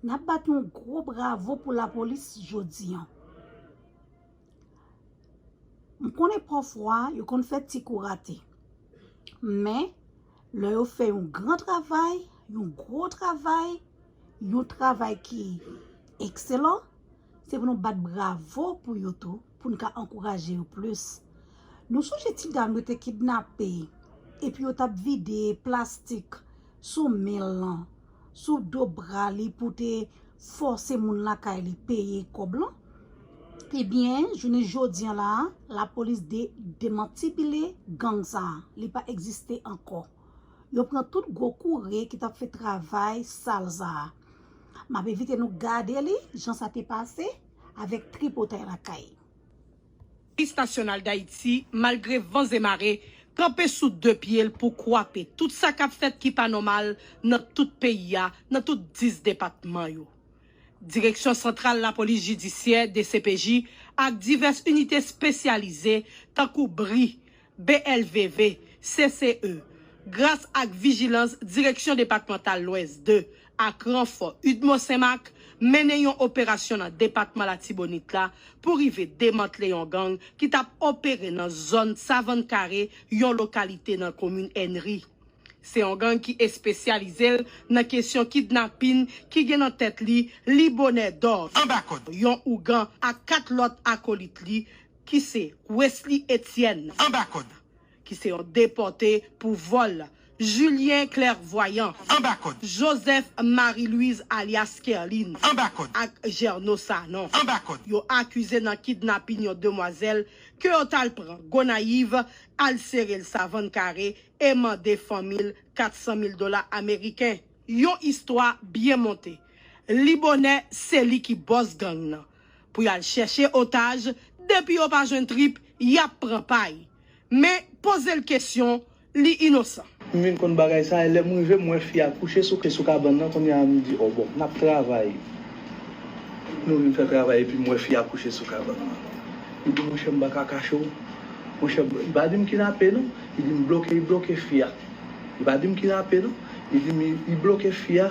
Nap bat yon gwo bravo pou lapolis jodi an. M konnen pafwa yo konn fè ti kou rate. Men, lè yo fè yon gran travay, yon gwo travay, yon travay ki ekselan, se pou nou bat bravo pou yo tou, pou nou ka ankouraje yo plis. Nou sonje ti dam yo te kidnape, epi yo tap vide plastik sou men l lan. sou do bra li pou te fòse moun lakay li peye kòb lan, ebyen jounen jodi an la a, lapolis demantibile gang sa a, li pa egziste ankò. Yo pran tout gwo koure ki t ap fè travay sal sa a. M ap envite nou gade li jan sa te pase avèk tripotay lakay. Polis Nasyonal Dayiti, malgre van ze mare, kanpe sou 2 pye l pou kwape tout sa k ap fèt ki pa nòmal nan tout peyi a, nan tout 10 depatman yo. Direksyon Santral Lapolis Jidisyè, dcpj, ak divès inite spesyalize, tankou bri, BLVV, CCE, gras ak vijilans Direksyon Depatmantal Lwès 2 ak ranfò udmo Senmak, mennen yon operasyon nan depatman Latibonit la pou rive demantle yon gang ki t ap opere nan zòn Savann Kare, yon lokalite nan komin Ènri. Se yon gang ki espesyalize l nan kesyon kidnapin ki gen nan tèt li Libonè Dò, Anbakod, yon ougan, ak 4 lòt akolit li, ki se Wesly Etienne anba kòd, ki se yon depòte pou vòl, Julien Clairvoyant anba kòd, Joseph Marie Louise alyas Kerline anba kòd ak Gerno Sanon anba kòd, yo akize nan kidnapin yon demwazèl ke yo tal pran Gonayiv al sere l savann kare e mande fanmi l 400 mil dola ameriken. Yon istwa byen monte. Li bonè se li ki bòs gang nan. pou y al chèche otaj, depi yo pa jwenn trip, y ap pran pay. Men, poze l kesyon, li inosan. M vin konn bagay sa, e lè m rive, m wè fi a kouche sou ke sou kabann nan, kounye a m di, o bon, n ap travay. Nou vin fè travay epi m wè fi a kouche sou kabann nan. Li di, monchè, m pa ka kache w. Monchè, li pa di m kinape non, li di m bloke, li bloke fi a. Li pa di m kinape non, li di m li bloke fi a.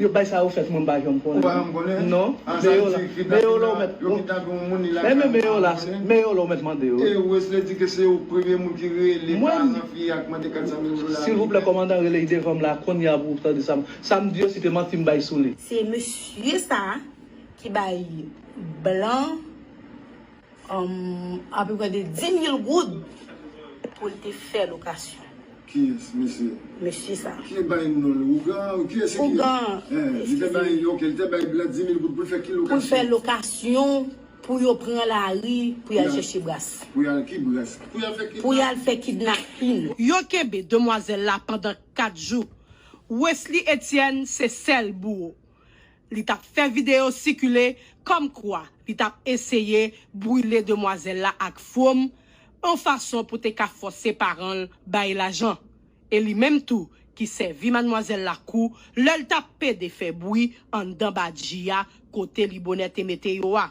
Yo bay sa yo fèt mwen m pa janm konnen non non meyola ou mèt mande yo silvouplè kòmandan rele yi devanm la kounya pou tande sa m di yo si te manti m bay sou li. Se mesye sa ki bay blan. Apeprè de 10 mil goud pou l te fè lokasyon. Ki mesye? Mesye sa. Ki te bay non l? Ougan? Ou kiyès se ki? Ougan. Li te bay, ok, li te bay blan 10 mil goud pou l fè ki lokasyon? Pou l fè lokasyon pou yo pran lari pou y al chèche bras. Pou y al ki bras? Pou y al fè kidnapin? Pou y al fè kidnapin. Yo kenbe demwazèl la pandan 4 jou. Wesly Etienne se sèl bouwo. Li t ap fè videyo sikile kòm kwa li t ap eseye brile demwazèl la ak fwom on fason pou te ka fòse paran l bay lajan. E li menm tou ki sèvi madmwazèl la kou lè l t ap pede fè bwi anndan badji a kote li bonè te mete yo a.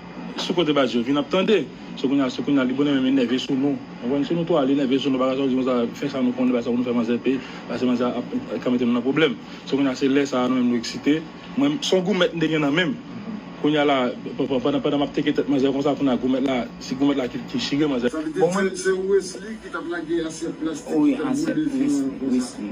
Sou kote baz yo vin ap tande. Se kounya se kounya li bon li menm li nève sou nou ou konprann si nou twò li nève sou nou bagay sa ou di konsa fè sa nou konnen bay sa pou nou fè manzè peye pase manzè a ap ka mete nou nan pwoblèm se kounya se lè sa nou menm nou eksite mwen son goumèt m te gen nan menm kounya la pandan pandan map teke tèt manzè konsa kounya goumèt la se goumèt la ki ki chire manzè Sa vle di se se Wesly ki tap lage asyèt plastik ki tap boule sou pon sa.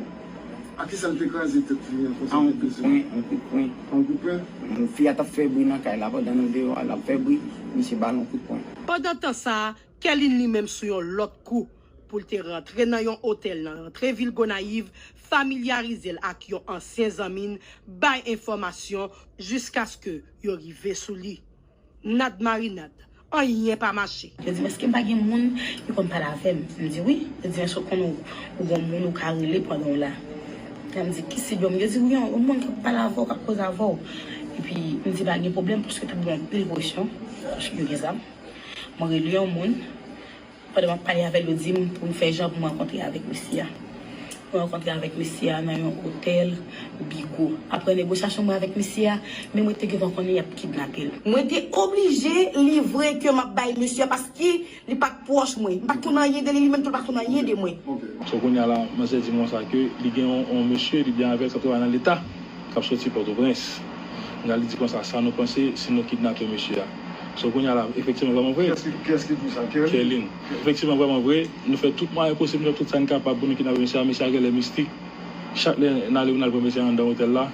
Ak kisa l te kraze tèt li an konsa te peze l? A yon kout pwen. A yon kout pwen? Yon fi a t ap fè bri nan kay la pandan nou deyò a, l ap fè bri, misye ba l yon kout pwen. Pandan tan sa a, Kèlin li menm sou yon lòt kou pou l te rantre nan yon otèl nan rantre vil Gonayiv, familyarize l ak yon ansyen zanmi n, bay enfòmasyon jiskaske yo rive sou li. Nad marinad. Anyen pa mache. Yo di m èske m pa gen moun ki konn pale avè m. M di wi. Yo di m èske ou konn ou gon moun ou ka rele pandan w la. Epi m di ki sib yo m. Yo di wi yon moun k ap pale avè w k ap koze avè w. Epi m di pa gen pwoblèm paske tout bon anpil presyon paske yo gen zam. Mwen rele yon moun. Pandan m ap pale avè l, yo di m pou m fè jan pou m rankontre avèk mesye a. Mwen rankontre avèk mesye a nan yon otèl Bigo. Apre negosyasyon mwen avèk mesye a, men mwen te gentan konnen y ap kidnape l. Mwen te oblije livre ke m ap bay mesye a paske li pa t pwòch mwen. M pa t konn anyen de li, li menm tou l pa t konn anyen de mwen. So kounye a la, manzè di m konsa ke li gen yon mesye li byen avè l k ap travay nan leta, k ap soti Pòtoprens. Kounye a li di konsa, sa nou panse si nou kidnape mesye a? So kounya la efektivman vrèman vre Kiyès ki di sa? Kerline Efektivman vrèman vre nou fè tout mwayen posib nou fè tout sa n kapab pou nou kidnape mesye a mesye a genlè mistik chak lè n ale pou n al pran mesye a anndan otèl la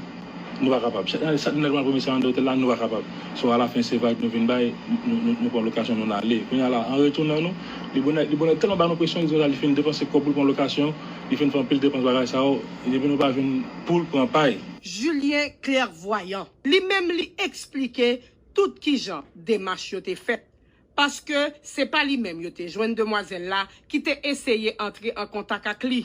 nou pa kapab chak lè n ale pou n al pran mesye a anndan otèl la nou pa kapab so alafen se vag nou vin bay nou pran lokasyon nou n ale kounya la an retounan nou li bonè li bonè tèlman ba nou presyon li di konsa li fin depanse kòb pou l pran lokasyon li fin fè anpil depans bagay sa yo depi nou pa jwenn pou l pran pay. Julien Clairvoyant li menm li eksplike tout kijan demach yo te fèt, paske se pa li menm yo te jwenn demwazèl la ki te eseye antre an kontak ak li.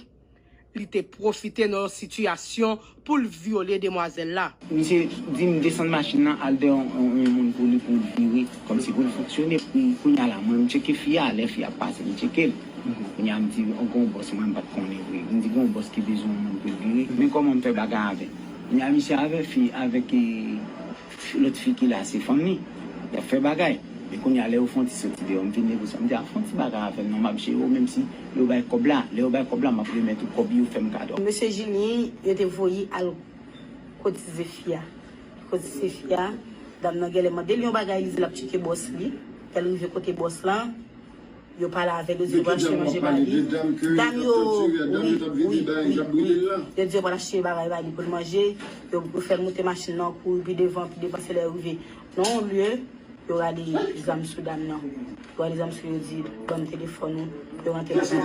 Li te pwofite nan yon sitiyasyon pou l vyole demwazèl la. Misye di m desann machin nan al dèyè yon moun pou li pou l vire kòmsi pou l fonksyone. Kounye a la mwen m tcheke fi a, lè fi a pase m tcheke l. Kounye a m di gen yon bòs mwen m pa t konnen vre. M di gen yon bòs ki bezwen yon moun pou l vire men kòman m fè bagay avè l. Kounye a misye avè fi avèk. Ti lòt fi ki la se fanmi. Y ap fè bagay. Men kounye a lè yo fon ti soti deyò m vin negosye. M di a fon ti bagay avè m non m ap jere w menmsi yo bay kòb la. Lè yo bay kòb la m ap remèt ou kòb yo fè m kado. Mesye Jilyen yo te voye al kot tizé fi a. Li kot tizé fi a. Dam nan gèlè mande l yon bagay li di l ap tcheke bòs li. Lè l rive kote bòs lan. Yo pa lave yo di yo pral achte manje ba li dam yo wi wi wi wi yo di yo pral achte bagay ba li pou l manje yo fè l moute machin nan kouri pi devan pi devan se lè yo rive nan yon lye yo rale zam sou dam nan yo rale zam sou li yo di banm telefòn ou yo rantre nan kay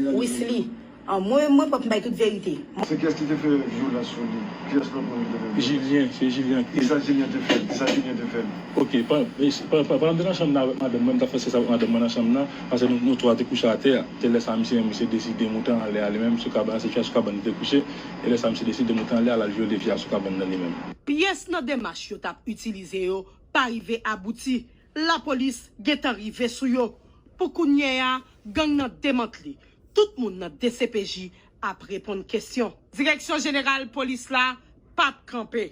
la wi se li. Anmweyy mwen pap bay tout verite. Se kiyès ki te fè vyolans sou li? Kiyès lòt moun ki te fè vyolans? Jilyen, se Jilyen ki. Kisa Jilyen te fè l? Kisa Jilyen te fè l? Ok, pandan m te nan chanm nan avèk madanm mwen, m t ap fè sèks avèk madanm mwen nan chanm nan, paske nou twa te kouche atè, se lè sa misye menm misye deside moute anlè a li menm sou kabann nan, se fia sou kabann li te kouche, e lè sa misye deside moute anlè a l al vyole fia sou kabann nan li menm. Pyès nan demach yo t ap itilize yo pa rive abouti. Lapolis gentan rive sou yo. Pou kounyè a, gang nan demantle. Tout moun nan dcpj ap reponn kesyon. Direksyon jeneral polis la pa p kanpe.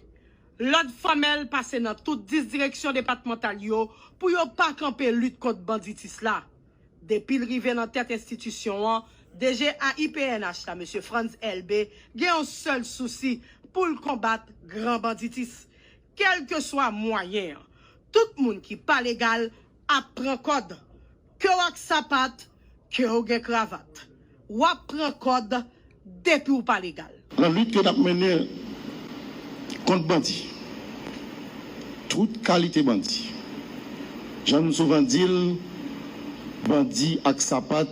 Lòd fòmèl pase nan tout 10 direksyon depatmantal yo pou yo pa kanpe lit kont banditis la. Depi l rive nan tèt enstitisyon an, DG AIPNH la, Mesye Frantz Elbé, gen yon sèl sousi pou l konbat gran banditis. Kèlkeswa mwayen an, tout moun ki pa legal ap pran kòd. Kew ak sapat, kew gen kravat, wap pran kòd depiw pa legal. Nan lit ke nap mennen kont bandi, tout kalite bandi, jan nou souvan dil, bandi ak sapat,